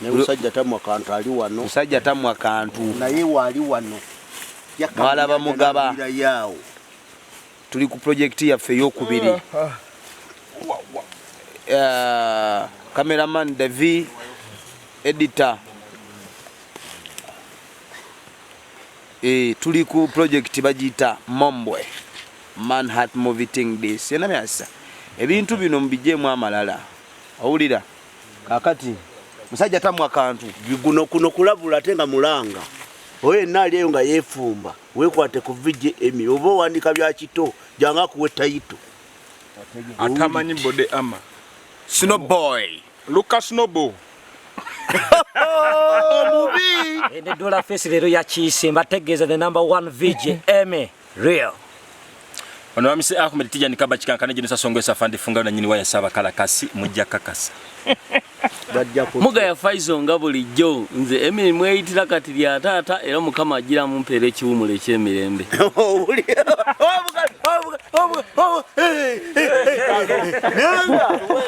Ne musajja tamwa kantu ali wano. Musajja tamwa kantu. Naye wali wano. Mwalaba mugaba. Tuli ku project yaffe ey'okubiri. Uh, uh. Uh, cameraman Devi editor eh, tuli ku project bagiyita Mombwe Manhat Movie Thing Days. Yena myasa ebintu bino mubijemu amalala, owulira Kakati musajja tamwa kantu biguno kuno kulabula ate nga mulanga oyo yenna ali eyo nga yeefumba weekwate ku vgm oba owandika bya kito janga akuwe tayito atamanyi bode ama sino boy luka snobo omubi edola fesi leero yakiise mbategeeza the number one vgm real ono wamise ahmed tijani kaba kikankana jino sasongo esa fandi funga na nyini waya saba kala kasi mujja kakasa muga ya faizo nga bulijjo nze emini mweyitira kati lya taata era mukama ajira mumpeera ekiwumulo ekyemirembe